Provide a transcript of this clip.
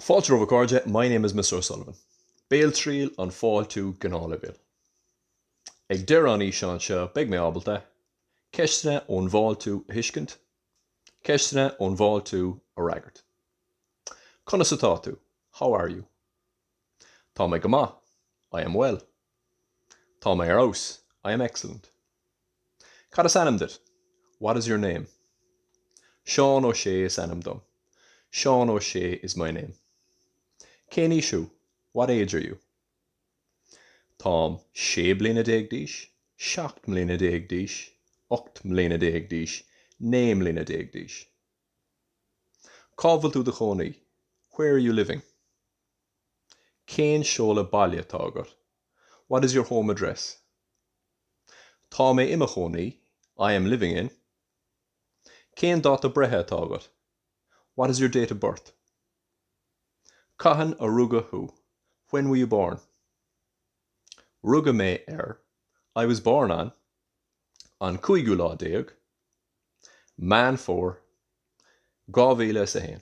Fáilte romhaibh a chairde, My name is Mr O'Sullivan. Béaltriail an fáiltiú gnáthleibhéil. Ag deireadh an fhíseáin seo beidh mé ábalta, Ceisteanna ón bhfáiltiú a thuiscint, Ceisteanna ón bhfáiltiú a fhreagairt. Conas atá tú? How are you? Tá mé go maith. I am well. Tá mé ar fheabhas. I am excellent. Cad is ainm duit? What is your name? Seán Ó Sé is ainm dom. Seán Ó Sé is my name. Cén aois thú? What age are you? Táim sé bliana déag d'aois, seacht mbliana déag d'aois, ocht mbliana déag d'aois, naoi mbliana déag d'aois. Cá bhfuil tú i do chónaí? Where are you living? Cén seoladh baile atá agat? What is your home address? Tá mé i mo chónaí I am living in Cén dáta breithe atá agat? What is your date of birth? Cathain a rugadh thú? When were you born? Rugadh mé ar I was born on an cúigiú lá déag, Meán Fómhair, dhá mhíle is a haon.